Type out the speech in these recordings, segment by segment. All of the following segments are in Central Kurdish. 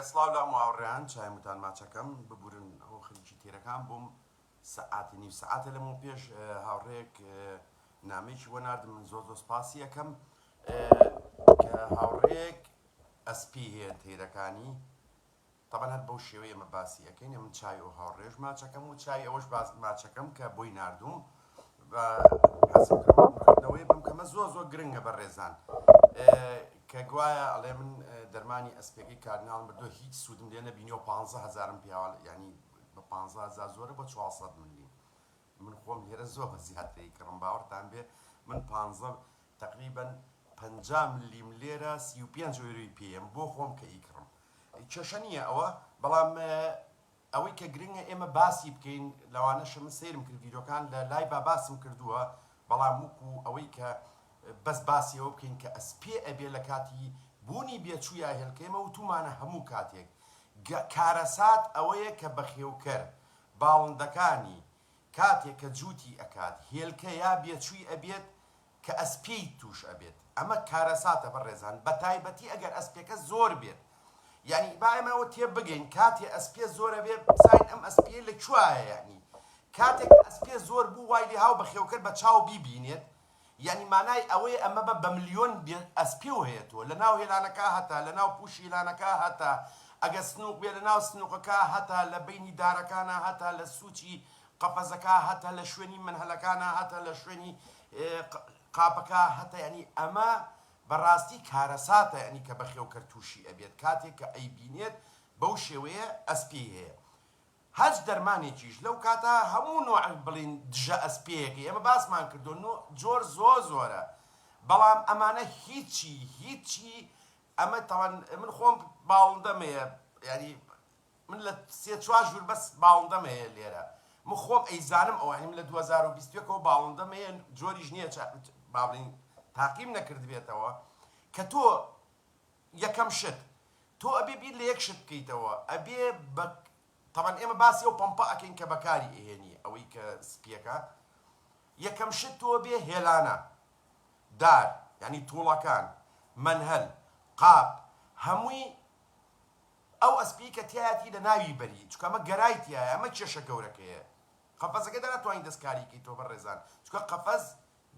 سڵاو لام واوڕێیان چایم وتان ماچەکەم ببورن هۆ خەریکی تێرەکان بووم سەعاتی نیو سەعاتە لەمەوە پێش هاوڕێک نامێکی بۆ نردم من زۆر زۆر سپاسی یەکەم کە هاوڕێک ئەسپی هەیە تێرەکانی تەبەن هەر بەو شێوەیە مە باسی یەکەین من چای ئەو هاوڕێژ ماچەکەم و چای ئەوەش باز ماچەکەم کە بۆی نردوم و حەزم کردوە بکردنەوەی بم کەمە زۆر زۆر گرنگە بە ڕێزان کە گوایە ئەڵێ من دەرمانی ئەسپێکی کاردناڵ بردو هیچ سوودم لێ نەبینیەوە پ هزارم پیاوە ینی بە پ هزار زۆرە بە 400 ملی من خۆم لێرە زۆر بە زیاتری کڕم باوەڕتان بێ من پ تقریبن پ ملیم لێرە سی و پێنج ئۆروی پێم بۆ خۆم کە ئیکڕم کێشە نییە ئەوە بەڵام ئەوەی کە گرنگە ئێمە باسی بکەین لەوانەشە من سەیرم کرد ڤیدۆکان لە لایڤا باسم کردووە بەڵام ووکو ئەوەی کە بەس باسی ئەوە بکەین کە ئەس پێ ئەبێ لە کاتی بوونی بێچوو یا هێلکەی مە وتومانە هەموو کاتێک گە کارەسات ئەوەیە کە بەخێوکەر باڵندەکانی کاتێ کە جووتی ئەکات هێلکە یا بێچووی ئەبێت کە ئەسپیی تووش ئەبێت ئەمە کارەساتە بەڕێزان بەتایبەتی ئەگەر ئەسپێکە زۆر بێت یانی با ئێمە ئەوە تێ بگەین کاتێ ئەسپیە زۆر ئەبێ بزانین ئەم ئەسپیە لە کوایە یانی کاتێک ئەسپیە زۆر بوو وای لێ هاو بەخێوکەر بە چاو بیبینێت یانی مانای ئەوەی ئەمە بە بە ملیۆن ئەسپی و هەیە تۆ لە ناو هێلانەکە هەتە لە ناو پووشی هێلانەکە هەتە ئەگەر سنووق بێ لە ناو سنووقەکە هەتە لە بینی دارەکانە هەتە لە سووچی قەفەزەکە هەتە لە شوێنی منهەلەکانە هەتە لە شوێنی قاپەکە هەتە یانی ئەمە بەڕاستی کارەساتە یانی کە بەخێوکەر تووشی ئەبێت کاتێک کە ئەیبینێت بەو شێوەیە ئەسپێی هەیە هەچ دەرمانێکیش لەو کاتە هەموو نوع بڵین دژە ئەسپێیەکە ئێمە باسمان کردو نوع جۆر زۆ زۆرە بەڵام ئەمانە هیچی هیچی ئەمە تاوان من خۆم باڵندەم هەیە یانی من لە سێ چوار ژوور بەس باڵندەم هەیە لێرە من خۆم ئەیزانم ئەوە هەی من لە دوو هەزار و بیست و یەک ەوە باڵندەم هەیە جۆریش نییە چ با بڵێین تاقیم نەکردبێتەوە کە تۆ یەکەم شت تۆ ئەبێ بیر لە یەک شت بکەیتەوە ئەبێ بە تەبەن ئێمە باسی ئەو پەمپە ئەکەین کە بەکاری ئێهێنی ئەوەی کە سپیەکە یەکەم شت تۆ بێ هێلانە دار ینی تووڵەکان منهل قاپ هەمووی ئەو ئەسپیەی کە تیایاتی لە ناوی بەری چونکە ئەمە گەرای تیایە ئەمە کێشە گەورەکەیە قەفەزەکە دە ناتوانی دەستکاری کەی تۆ بەڕێزان چونکە قەفەز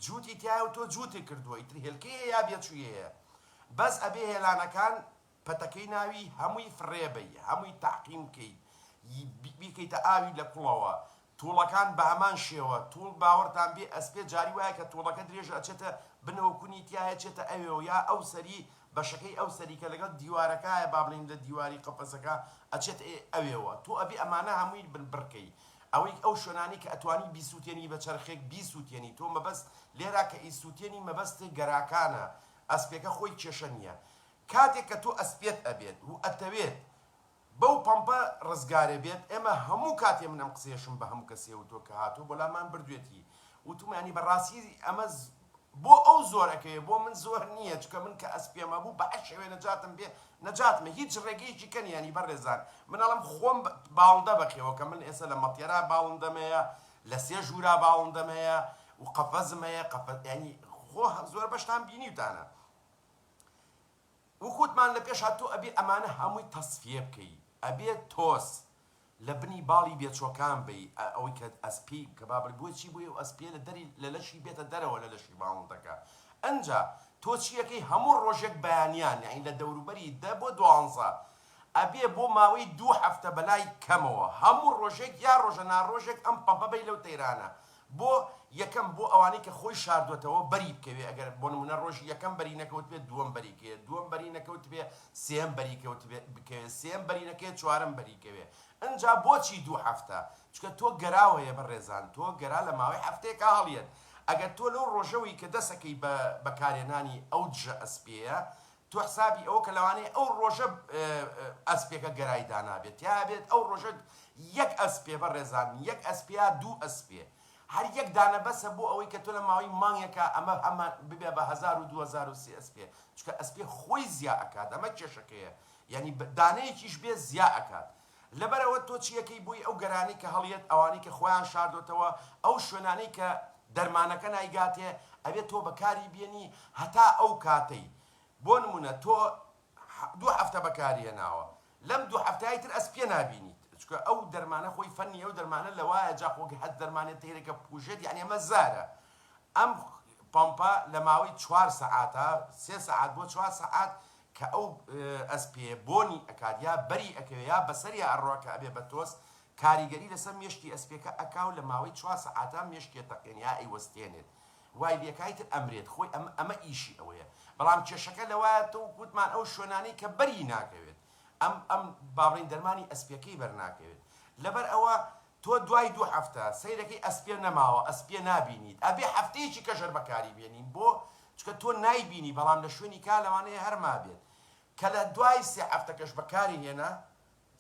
جوتی تیایە و تۆ جوتێ کردووە ئیتر هێلکەی هەیە بێچوی هەیە بەس ئەبێ هێلانەکان پەتەکەی ناوی هەمووی فڕێ بەی هەمووی تەعقیم کەی بیکەیتە ئاوی لە کوڵەوە توڵەکان بەهەمان شێوە توڵ باوەرتان بێ ئەسپێ جاری وایە کە توڵەکە درێژ ئەچێتە بنەوە کونی تیایە چێتە ئەوێوە یا ئەو سەری بەشەکەی ئەو سەری کە لەگەڵ دیوارەکایە با بڵێین لە دیواری قەفەسەکە ئەچێت ئەوێوە تۆ ئەبێ ئەمانە هەمووی بن بڕکەی ئەوەی ئەو شوێنانەی کە ئەتوانی بیسوتێنی بە چەرخێک بیسوتێنی تۆ مەبەست لێرا کە ئیسوتێنی مەبەست گەراکانە ئەسپێکە خۆی کێشە نیە کاتێک کە تۆ ئەسپێت ئەبێت و ئەتەوێت بەو پەمپە ڕزگارێ بێت ئێمە هەموو کاتێ من ئەم قسەیەشم بە هەموو کەسێ وتووە کە هاتووە بۆ لامان بردوێتی وتوومانی بە ڕاستی ئەمە بۆ ئەو زۆر ئەکەوێ بۆ من زۆر نییە چکە من کە ئەسپێم ئەبوو بە هەر شێوێ نەجاتم بێ نەجاتمە هیچ ڕێگەیەکی کەن یانی بەڕێزان من ئەڵم خۆم باڵندە بەخێوە کە من ئێسە لە مەتێرا باڵندەم هەیە لە سێ ژوورا باڵندەم هەیە و قەفەزم هەیە قەفەز یانی خۆ زۆر بەشتان بینیوتانە وکوتمان لەپێش هات تۆ ئەبێ ئەمانە هەمووی تەسفیە بکەی ئەبێ تۆز لەبنی باڵی بێچۆکان بەی ئە ئەوەی کە ئەسپی کەبابڕی بۆی چی بوی ئەو ئەسپیە لەدەری لەلەشی بێتە دەرەوە لەلەشی ماڵندەکە ئەنجا تۆ چیەکەی هەموو ڕۆژێک بەیانیان یانی لەدەوروبەری دە بۆ دوانزە ئەبێ بۆ ماوەی دوو هەفتە بەلای کەمەوە هەموو ڕۆژێک یا ڕۆژە ناڕۆژێک ئەم پەمپە بەی لەو تەیرانە بۆ یەکەم بۆ ئەوانەی کە خۆی شاردوەتەوە بەری بکەوێ ئەگەر بۆ نمونە ڕۆژی یەکەم بەری نەکەوتبێ دووەم بەری کەوێ دووەم بەری نەکەوتبێ سێیەم بەری کەوتبێ بکەوێ سێیەم بەری نەکەێ چوارەم بەری کەوێ ئنجا بۆچی دوو هەفتە چکە تۆ گەراو هەیە بەڕێزان تۆ گەرا لە ماوەی هەفتەیەکا هەڵیەت ئەگەر تۆ لەو ڕۆژەوەی کە دەسەکەی بە بەکارێنانی ئەو دژە ئەسپێیە تۆ حسابی ئەوە کە لەوانەیە ئەو ڕۆژە ئەسپێکە گەرای دانابێت تیا بێت ئەو ڕۆژە یەک ئەسپێ بەڕێزان یەک ئەسپێا دوو ئەسپێ هەر یەک دانە بەسە بۆ ئەوەی کە تۆ لە ماوەی مانگێکا ئەمە هەمان ببێ بە هەزار و دوو هەزار و سێ ئەسپێ چونکە ئەسپێ خۆی زیا ئەکات ئەمە کێشەکەیە یانی دانەیەکیش بێ زیا ئەکات لەبەر ئەوە تۆ چی یەکەی بۆی ئەو گەرانەی کە هەڵیەت ئەوانەی کە خۆیان شاردۆتەوە ئەو شوێنانەی کە دەرمانەکە نایگاتێ ئەبێ تۆ بەکاری بێنی هەتا ئەو کاتەی بۆ نمونە تۆ دوو هەفتە بەکاری هێناوە لەم دوو هەفتای تر ئەس پێ نابینیت چکە ئەو دەرمانە خۆی فەنی ئەو دەرمانە لەوایە جا خۆ هەست دەرمانێ تەیرەکە بکوژێت یعنی ئەمە زارە ئەم پەمپە لە ماوەی چوار سەعاتە سێ سەعات بۆ چوار سەعات کە ئەو ئەسپێیە بۆنی ئەکات یا بەری ئەکەوێ یا بەسەریا ئەڕوا کە ئەبێ بە تۆز کاریگەری لەسەر مێشکی ئەسپێکە ئەکا و لە ماوەی چوار سەعاتا مێشکی ئەتەقێنێ یا ئەیوەستێنێت وای لێکا ئیتر ئەمرێت خۆی ئەمە ئەمە ئیشی ئەوەیە بەڵام کێشەکە لەوایە تۆ وەک وتمان ئەو شوێنانەی کە بەری ناکەوێت ئەم ئەم با بڵێین دەرمانی ئەسپێکەی بەرناکەوێت لەبەر ئەوە تۆ دوای دوو هەفتە سەیرەکەی ئەسپێ نەماوە ئەسپیە نابینیت ئەبێ هەفتەیەکی کەژەر بەکاری بێنین بۆ چکە تۆ نایبینی بەڵام لە شوێنی کا لەوانەیە هەر مابێت کە لە دوای سێ هەفتەکەش بەکاری هێنا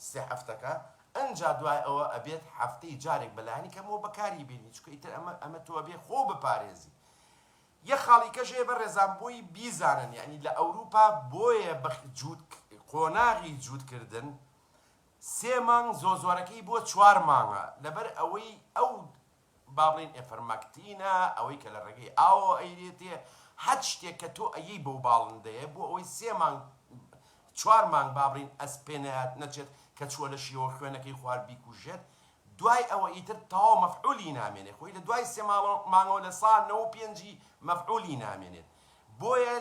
سێ هەفتەکە ئەنجا دوای ئەوە ئەبێت هەفتەی جارێک بەلانی کەمەوە بەکاری بێنی چکە ئیتر ئەمە ئەمە تۆ ئەبێ خۆ بپارێزی یە خاڵیکەش هەیە بە ڕێزان بۆی بیزانن یعنی لە ئەوروپا بۆیە بە جووت قۆناغی جووتکردن سێ مانگ زۆ زۆرەکەی بۆ چوار مانگە لەبەر ئەوەی ئەو با بڵێین ئێفرمەکتینە ئەوەی کە لە ڕێگەی ئاوەوە ئەیرێتێ هەچ شتێک کە تۆ ئەیەی بەو باڵندەیە بۆ ئەوەی سێ مانگ چوار مانگ با بڵێین ئەس پێ نەیات نەچێت کە چووە لەشیەوە خوێنەکەی خوارد بیکوژێت دوای ئەوە ئیتر تەواو مەفعولی نامێنێ خۆی لە دوای سێ مانگەوە لە سا نەوە و پێنجی مەفعولی نامێنێت بۆیە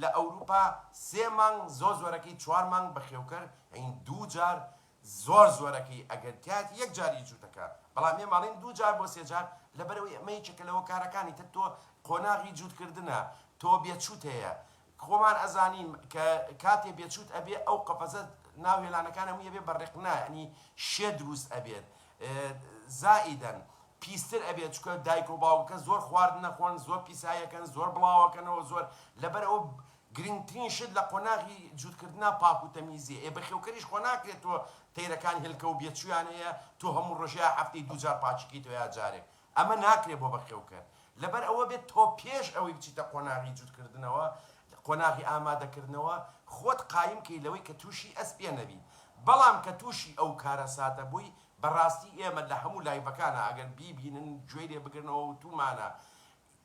لە ئەوروپا سێ مانگ زۆر زۆرەکەی چوار مانگ بەخێوکەر ئەین دوو جار زۆر زۆرەکەی ئەگەر تیایەتی یەک جار ی جووتەکە بەڵام ئێمە ئەڵێین دوو جار بۆ سێ جار لەبەرئەوەی ئەمە یەکێکە لە هۆکارەکانی تر تۆ قۆناغی جووت کردنە تۆ بێچووت هەیە خۆمان ئەزانین کە کاتێ بێچووت ئەبێ ئەو قەفەزە ناو هێلانەکان هەمووی ئەبێ بە ڕێق نا یانی شێ درووست ئەبێت زائیدەن پیستر ئەبێ چکە دایکۆ باوکەکە زۆر خواردن نەخۆن زۆر پیسایەکەن زۆر بڵاوەکەنەوە زۆر لەبەر ئەوە گرنگترین شت لە قۆناغی جووتکردنا پاک و تەمیزی ئێ بەخێوکەریش خۆ ناکرێت تۆ تەیرەکان هێلکە و بێچوویان هەیە تۆ هەموو ڕۆژێ یا هەفتەی دوو جار پاچیکەیتەوە یا جارێک ئەمە ناکرێت بۆ بەخێوکەر، لەبەر ئەوە بێت تۆ پێش ئەوەی بچیتە قۆناغی جووتکردنەوە، قۆناغی ئامادەکردنەوە، خۆت قایم کەی لەوەی کە تووشی ئەسپێ نەبی. بەڵام کە تووشی ئەو کارەساتە بووی، بەڕاستی ئێمە لە هەموو لایڤەکانا ئەگەر بیبینن گوێی لێ بگرنەوە وتوومانە،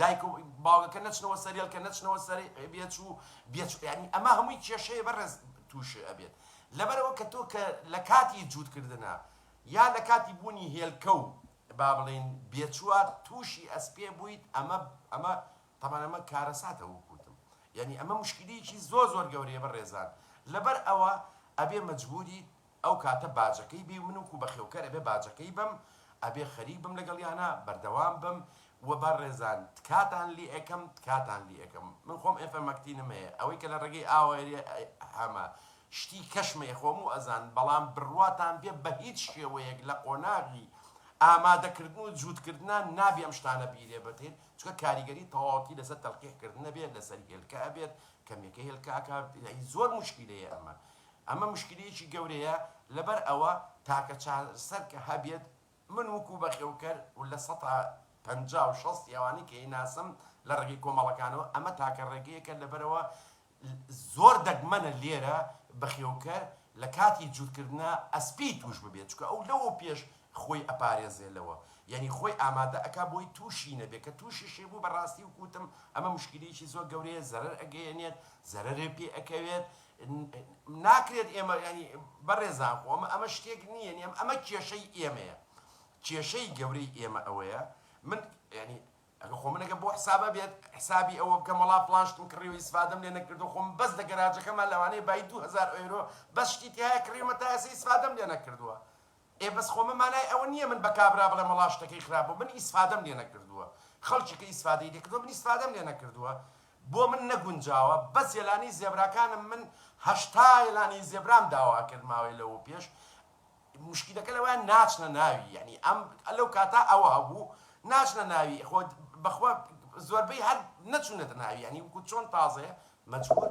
دایک و باوگەکە نەچنەوە سەر هێلکە نەچنەوە سەر بێچ و بێچ یانی ئەمە هەمووی کێشەیە بەڕێز تووش ئەبێت لەبەرەوە کە تۆ کە لە کاتی جووت کردنە یا لە کاتی بوونی هێلکە و با بڵێین بێچووە تووشی ئەسپێ بوویت ئەمە ئەمە تەبەن ئەمە کارەساتە وەک وتم یانی ئەمە مشکلیکی زۆر زۆر گەورەیە بەڕێزان لەبەر ئەوە ئەبێ مەجبووریت ئەو کاتە باجەکەی بی من وکو بەخێوکەر ئەبێ باجەکەی بەم ئەبێ خەریک بم لەگەڵیانا بەردەوام بم وە بە ڕێزان تکاتان لی ئەکەم تکاتان لی ئەکەم من خۆم ئێ فە مەکتینم هەیە ئەوەی کە لە ڕێگەی ئاوە ئەرێ هە مە شتی کەش مە یە خۆ مو ئەزان بەڵام بڕواتان بێ بە هیچ شێوەیەک لە قۆناغی ئامادە کردن و جووت کردنا نابێ ئەم شتانە بیرێ بتین چونکە کاریگەری تەواوەتی لە سەر تەلقیح کردن ئەبێ لە سەر هێلکە ئەبێت کە مێکە هێلکە ئەکات زۆر موشکیلەیە ئەمە ئەمە مشکلیەکی گەورەیە لەبەر ئەوە تاکە چارەسەر کە هەبێت من وکو بەخێوکەر و لە سەتا پەنجا و شەست ئەوانەی کە ئەیناسم لە ڕێگەی کۆمەڵەکانەوە ئەمە تاکە ڕێگەیەکە لەبەرئەوە زۆر دەگمەنە لێرە بەخێوکەر لە کاتی جوتکردنا ئەسپی توش ببێت چونکە ئەو لەوە پێش خۆی ئەپارێزێ لەوە یانی خۆی ئامادە ئەکا بۆی توشی نەبێ کە توشیشی بوو بەڕاستی وکوتم ئەمە مشکلیەکی زۆر گەورەیە زەرەر ئەگەیەنێت زەرەرێ پێ ئەکەوێت ناکرێت ئێمە یانی بەڕێزان خۆ ئەمە ئەمە شتێک نییە یانی ئەمە ئەمە کێشەی ئێمەیە کێشەی گەورەی ئێمە ئەوەیە من یانی ئەگە خۆ من ئەگە بۆ حسابە بێت حسابی ئەوە بکەم وەڵا فڵان شتم کڕیوە ئیسفادەم لێ نەکردو خۆم بەس لە گەراجەکەما لەوانەیە بای دوو هەزار ئۆیرۆ بەس شتی تیایە کڕیومە تا ئێستا ئیسفادەم لێ نەکردووە ئێ بەس خۆ من مانای ئەوە نیە من بە کابرا بڵێم وەڵا شتەکەی خراپ بوو من ئیسفادەم لێ نەکردووە خەڵکی کە ئیسفادەی لێ کردووە من ئیسفادەم لێ نەکردووە بۆ من نەگونجاوە بەس یەلانی زێبراکانم من هەشتا یەلانی زێبرام داوا کرد ماوەی لەوە پێش مشکیلەکە لەوە ناچنە ناوی یعنی ئەم لەو کاتا ئەوە هەبوو ناچنە ناوی خۆ بەخوا زۆربەی هەر نەچونەتە ناوی یعنی وەکو چۆن تازەیە مەجبور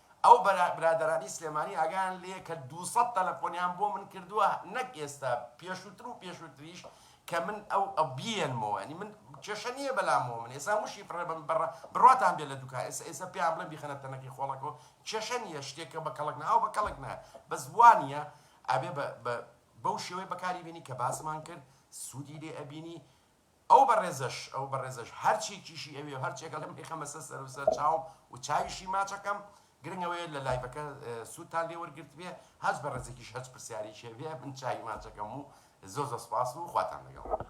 ئەو برادەرانی سلێمانی ئاگایان لێیە کە دوو سەد تەلەفۆنیان بۆ من کردووە نەک ئێستا پێشووتر و پێشووتریش کە من ئەو ئەو بیێنمەوە ینی من کێشە نییە بەلامەوە من ئێستا وشی فڕێ بم بڕە بڕاتان بێ لە دوکان ئێستا ئێستا پێیان بڵێ بیخەنە تەنەکی خۆڵەکەەوە کێشە نییە شتێکە بە کەڵک ناو بە کەڵک نایە بەس وانە ئەبێ بە بەو شێوەی بەکاری بینی کە باسمان کرد سوودی لێ ئەبینی ئەو بەڕێزەش ئەو بەڕێزەش هەر چێکیشی ئەوێ و هەر چێکە لەم ئیخەمە سە سەر و سەر چاوم و چاویشی ماچەکەم گرنگ ئەوەیە لە لایڤەکە سوودتان لێ وەرگرتبێ هەچ بەڕێزێکیش هەچ پرسیارێکی هەبێ من چاوی ماچەکەم و زۆر زۆر سپاس و خواتان لەگەڵ.